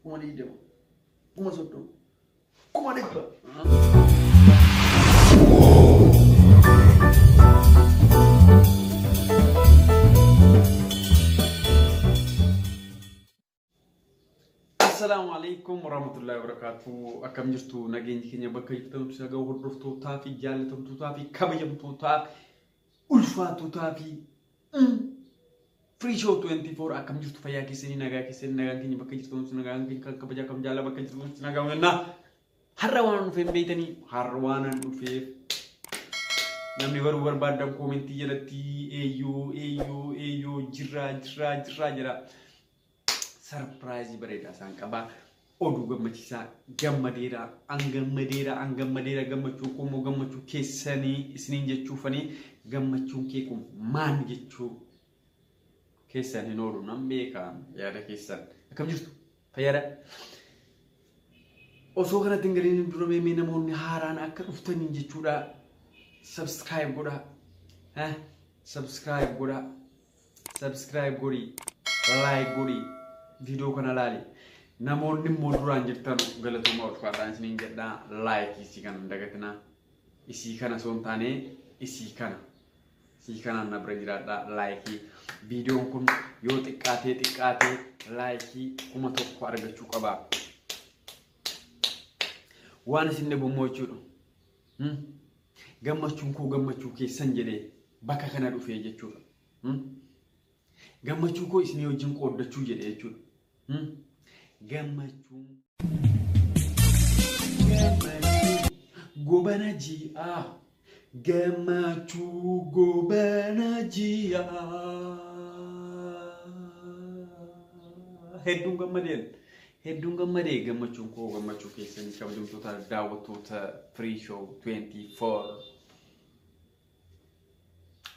kuma digdama kuma soddoma kuma dhibba. Assalaamu alaikum warahmatullahi wabarakatuh. Akkam jirtu nageenyi keenya bakka jirtan si haga'u hordoftootaa fi jaallatamtootaa fi kabajamtootaa ulfaatotaa fi Free Show 24 akkam jirtu fayyaa keessanii nagaa keessanii nagaan keenya bakka jirtu nuti nagaan keenya kan kabajaa kan jaalala bakka jirtu nuti nagaa hojjannaa har'a waan dhufee hin beektanii har'a waan an dhufeef namni baruu barbaadan koomentii jalatti eeyyoo eeyyoo eeyyoo jirraa jirraa jirraa jedha sarpiraayizii bareedaa isaan qabaa. Oduu gammachiisaa gammadeera an gammadeera an gammadeera gammachuun kun immoo gammachuu keessanii isiniin jechuufanii gammachuun kee kun maal jechuu keessan hin oolu nan beeka yaada keessan akkam jirtu fayyada. Osoo kanatti hin galiin dura mee namoonni haaraan akka dhuftaniin jechuudha. Subscribe godhaa. Subscribe godhaa. subscribe godhi like godhi video kana laali namoonni immoo duraan jirtan galatoomaa ulfaataan isiniin jedha like isii kana hin dagatinaa isii kana osoo hin taane isii kana isii kanaan na bira jiraadha like viidiyoon kun yoo xiqqaatee xiqqaatee like kuma tokko argachuu qaba waan isin dhibummoo jechuudha Gammachuun koo gammachuu keessan jedhee bakka kana dhufee jechuudha. Gammachuu koo isinii wajjin qooddachuu jedhe jechuudha. Gammachuu. Gobana ji'aa. Gammachuu gobana ji'aa. Hedduun gammadeen. Hedduun gammade gammachuun koo gammachuu keessanii kabajamtoota daawwattoota Free Show 24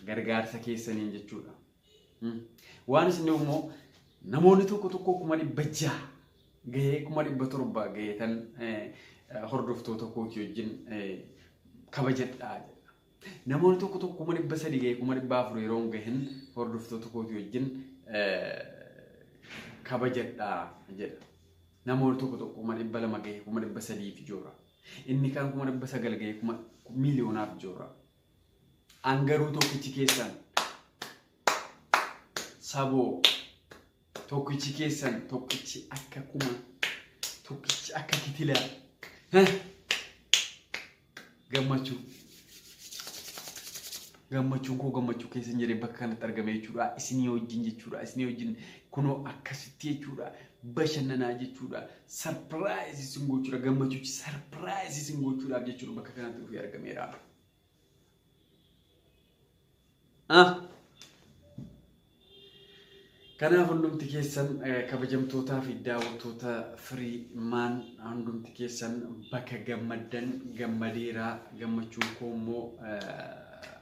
gargaarsa keessaniin jechuudha. Hmm. Waan isin immoo namoonni tokko tokko kuma dhibba jaha gahee kuma dhibba torba gaheetan eh, hordoftoota kootii wajjin eh, kabajadhaa jedha. Namoonni tokko tokko kuma dhibba sadii ga'ee kuma dhibba afur yeroo hin gahin hordoftoota kootii wajjin kabajadha jedha. Namoonni tokko tokko kuma dhibba lama ga'ee kuma dhibba sadiif joora. Inni kan kuma dhibba sagal ga'ee kuma miiliyoonaaf joora. An garuu tokkichi keessan saboo Tokkichi keessan tokkichi akka kuma tokkichi akka kitila Heh! gammachuu gammachuun koo gammachuu keessan jedhee bakka kanatti argame jechuudha isinii wajjin jechuudha isinii wajjin kunoo akkasitti jechuudha bashannanaa jechuudha sarpiraayis isin gochuudha gammachuuchi sarpiraayis isin gochuudhaaf jechuudha bakka kanatti dhufee argameera. Ah. Kanaaf hundumti keessan eh, kabajamtootaa fi daawwattoota firii maan hundumti keessan bakka gammaddan gammadeeraa gammachuun koo immoo eh,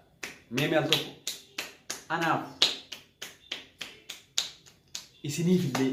mee mee al tokko anaaf isiniif illee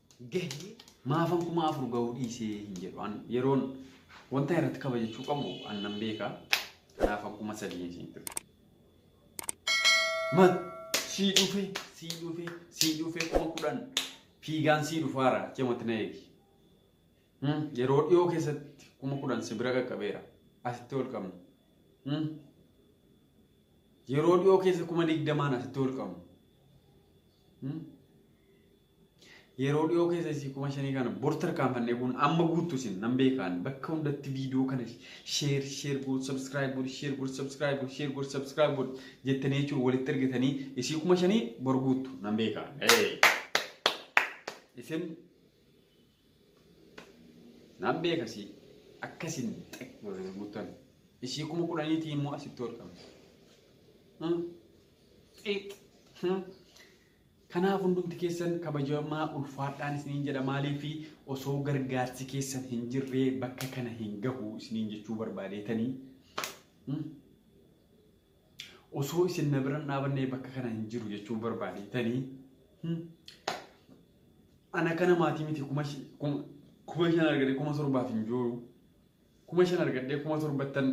gahe maafan kuma afur gahuu dhiisee hin jedhu. An yeroon wanta irratti kabajachuu qabu an nan beeka. Kanaaf an kuma sadii hin siin ture. Mat sii dhufe sii dhufe sii dhufe kuma kudhan fiigaan sii dhufaara cimatti na eegi. Hmm, Yeroo dhiyoo keessatti kuma kudhan si bira qaqqabeera. Asitti ol qabna. Hmm. Yeroo dhiyoo keessa kuma digdamaan asitti ol qabna. Hmm. Yeroo dhiyoo keessa isii kuma shanii kana bor tarkaanfannee kun amma guuttu isin nan beekaan bakka hundatti viidiyoo kana sheer sheer goot sabskiraayib goot sheer goot sabskiraayib goot sheer goot sabskiraayib goot jettanii jechuun walitti ergitanii isii kuma shanii bor guuttu nan beekaan. Isin nan beekasii akkasiin xeq gootanii guuttan isii kuma kudhaniitii immoo asitti hodhamu. Xiix. Kanaaf hundumti keessan kabajamaa ulfaadhaan isiniin jedha maaliif osoo gargaarsi keessan hin jirree bakka kana hin gahu isiniin jechuu barbaadeetanii osoo isin na bira hin dhaabannee bakka kana hin jiru jechuu barbaadeetanii ana kana maatii miti kuma shi- kuma- kuma shan argadhe kuma torbaaf hin jooru kuma shan argadhee kuma torbattan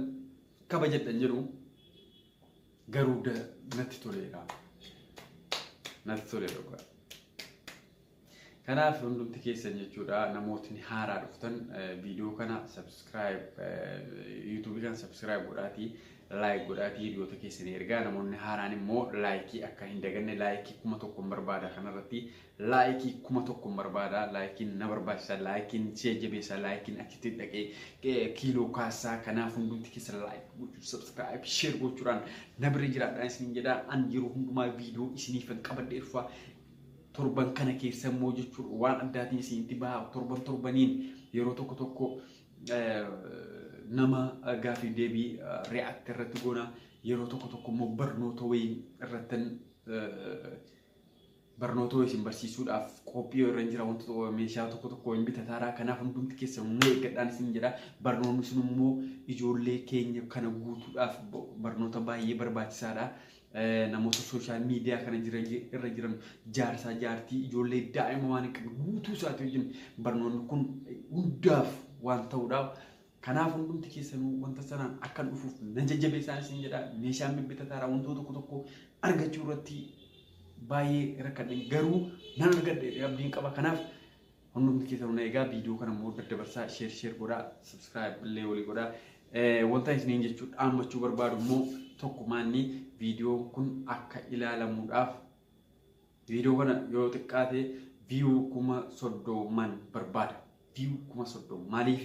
kabajadhan jedhu Garuu da natti toleera. Natti toleera dhugaa. Kanaaf hundumti keessan jechuudha namootni haaraa dhuftan eh, viidiyoo kana subscribe yuutuubii kana subscribe godhaatii like godhaatii hiriyoota keessanii ergaa namoonni haaraan immoo laayikii akka hin daganne laayikii kuma tokkoon barbaada kanarratti Like kuma tokkon barbaada like na barbaachisa like si jajjabeessa like achitti dhaqee kiiloo kaassaa kanaaf hundumti keessa like gochuu subscribe share gochuudhaan na bira jiraadhaan isiniin jedha an yeroo hundumaa viidiyoo isiniifan qabadhee dhufa torban kana keessa immoo jechuun waan addaatiin isinitti baha torban torbaniin yeroo tokko tokko nama gaafii deebii react irratti goona yeroo tokko tokko immoo barnoota wayii irratti barnootoo isin barsiisuudhaaf qophii irra hin jira wantoota meeshaa tokko tokko hin bitataara kanaaf hundumti keessa humna eeggadhaan isin jedha barnoonni sun immoo ijoollee keenya kana guutuudhaaf barnoota baay'ee barbaachisaadha. Namoota sooshaal miidiyaa kana irra jiran jaarsaa jaartii ijoollee daa'ima waan hin qabne guutuu isaati wajjin barnoonni kun hundaaf waan ta'uudha. Kanaaf hundumti keessanuu wanta sanaan akkan dhufuuf nan jajjabeessaan isin jedha. Meeshaan bibbitataadha wantoota tokko tokko argachuu irratti baay'ee rakkadhe garuu nan argadhe abdiin qaba. Kanaaf hundumti keessanuu na egaa viidiyoo kana immoo daddabarsaa sheer sheer godhaa subscribe illee walii godhaa. Wanta isiniin jechuu dhaammachuu barbaadu immoo tokkumaanni viidiyoon kun akka ilaalamuudhaaf Viidiyoo kana yoo xiqqaate viyuu kuma soddooman barbaada. Viyuu kuma soddoma. Maaliif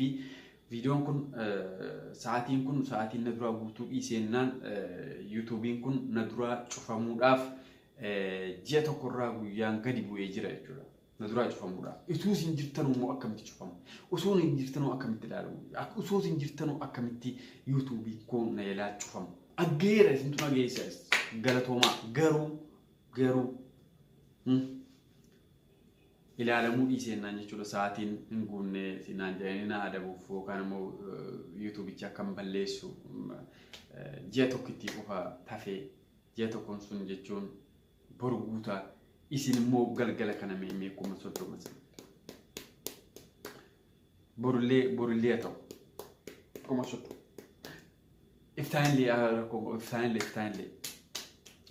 viidiyoon kun sa'aatiin kun sa'aatiin na duraa guutuu dhiiseennaan yuutuubiin kun na duraa cufamuudhaaf ji'a tokkorraa guyyaan gadi bu'ee jira jechuudha. Na duraa cufamuudhaaf. Utuu isin jirtanuu immoo akkamitti cufamu? Utuu hin jirtanuu akkamitti ilaalamu? Utuu hin jirtanuu akkamitti yuutuubiin koo na jalaa cufamu? Aggeera isintu na geessa galatoomaa garuu garuu hmm, ilaalamuu dhiisee naan jechuudha sa'aatiin hin guunne naan jedhanii na adabuuf yookaan immoo yuutuubicha akkan balleessu eh, ji'a tokkitti qofa tafee ji'a tokkoon sun jechuun boru guutaa isin immoo galgala kana mee mee kuma soddoma sana. borullee borullee haa ta'u kuma soddoma Iftaanillee yaa rakkoo koo iftaanillee iftaanillee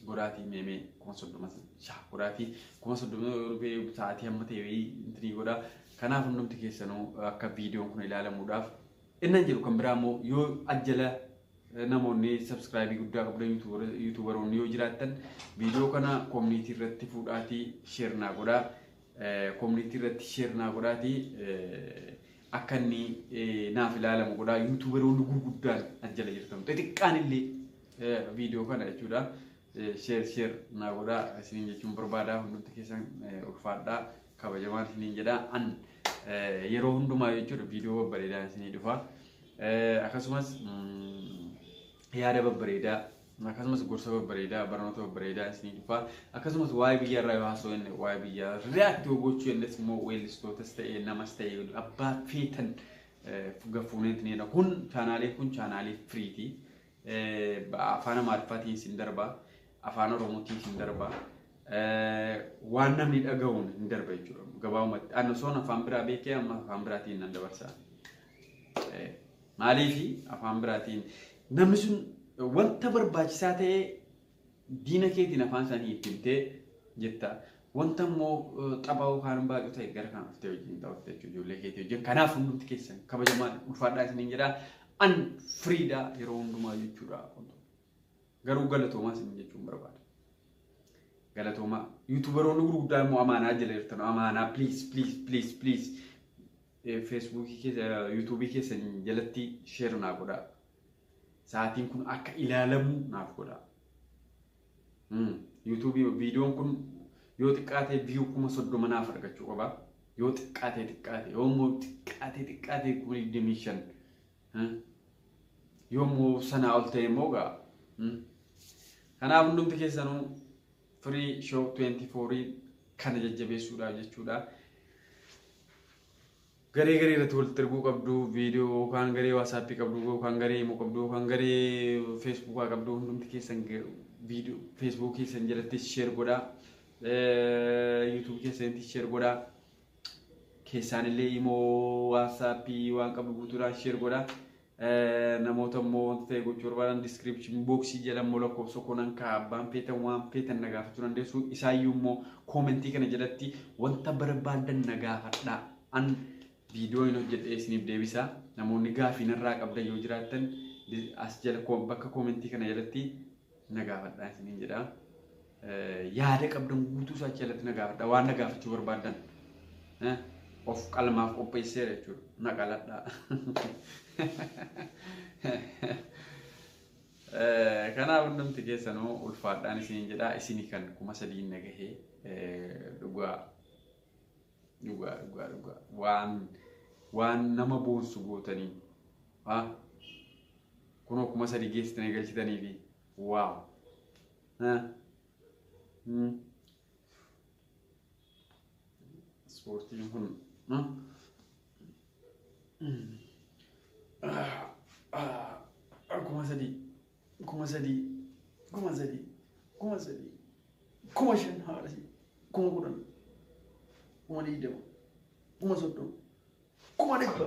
goraatii meemee kuma soddoma shaa goraatii kuma soddoma yoo dhufee sa'aatii hamma ta'e wayii intinii godha kanaaf hundumti keessanuu akka viidiyoon kun ilaalamuudhaaf innan jiru kan biraa immoo yoo ajjala eh, namoonni sabskraayibii guddaa qabdan yuutuubar- yuutuubaroonni yoo jiraattan viidiyoo kana koomuniitii irratti fuudhaatii sheer naa godhaa Community irratti share naa godhaati akka inni naaf ilaalamu godhaa yuutuuberoonni gurguddaan as jala jirtan xixiqqaan illee viidiyoo kana jechuudha share share naa godhaa isiniin jechuun barbaadaa hundumti keessan ulfaadhaa kabajamaan isiniin jedhaa an yeroo hundumaa jechuudha viidiyoo babbareedaa isinii dhufa akkasumas yaada babbareedaa akkasumas gorsa babbareedaa barnoota babbareedaa isinii dhufaa akkasumas waa'ee biyya irraa yoo haasoo inni waa'ee biyya react yoo gochuu innis immoo weellistootas ta'e namas ta'e abbaa feetan gafuuneet ni kun chaanaalee kun chaanaalee firiiti afaan amaariffaatiin isin darbaa afaan oromootiin isin darbaa waan namni dhaga'uun hin darba jechuudha gabaabumatti annosoon afaan biraa beekee amma afaan biraatiin nan dabarsaa. Maaliif afaan biraatiin namni sun wanta barbaachisaa ta'e diina keetiin afaan isaanii itti himtee jetta. Wanta immoo taphaa yookaan baacuu ta'e gara kan dhuftee wajjin taphatti jechuudha ijoollee keetii wajjin. Kanaaf hundumti keessan kabajamaa ulfaadhaa isiniin jedha. An firiidhaa yeroo hundumaa jechuudha. Garuu galatoomaa isin jechuun barbaada. Galatoomaa. Yuutuubaroonni gurguddaan immoo amaanaa jala jirtan amaanaa please please please please. Facebook keessa YouTube keessan jalatti share naa godhaa. Sa'aatiin kun akka ilaalamu naaf godhaa. Hmm. YouTube viidiyoon kun yoo xiqqaatee view kuma soddoma naaf argachuu qaba. Yoo xiqqaatee xiqqaatee yoo immoo xiqqaatee xiqqaatee kuma digdamii shan. Hmm. Yoo immoo sanaa ol ta'e immoo gaa. Hmm. Kanaaf hundumti keessanuu Free Show 24 kana jajjabeessuudhaaf jechuudha. Garee garee irratti walitti erguu qabdu, viidiyoo yookaan garee waasaappii qabdu yookaan garee immoo qabdu yookaan garee feesbuukaa qabdu hundumti keessan viidiyoo feesbuukii keessan jalatti sheer godhaa. Yuutuubii keessanitti sheer godhaa. Keessaanillee immoo waasaappii waan qabdu guutuudhaan sheer godhaa. Namoota immoo wanta ta'e gochuu barbaadan description box jala immoo lakkoofsa koo nan kaa'a abbaan feetan waan feetan na gaafachuu dandeessu isaayyuu immoo koomentii kana jalatti wanta barbaadan na gaafadhaa an viidiyoo hin hojjedhee isiniif deebisa namoonni gaafii narraa qabdan yoo jiraattan as jala bakka koomentii kana jalatti na gaafadhaa isiniin jedha. Yaada qabdan guutuu isaa achi jalatti na gaafadha. Waan na gaafachuu barbaaddan of qalmaaf qopheesseera jechuudha. Na qaladhaa. Kanaaf hundumti keessanuu ulfaadhaan isiniin jedha. Isinii kan kuma sadiin na gahee dhugaa. Dhugaa dhugaa dhugaa waan waan nama boonsu gootanii ha kunoo kuma sadii geessitanii galchitanii fi waaw ha Hmm. ispoortiin kun ha? Ah, ah, ah, kuma sadii kuma sadii kuma sadii kuma sadii kuma shan haadha si kuma kudhan kuma digdama kuma soddoma kuma dhibba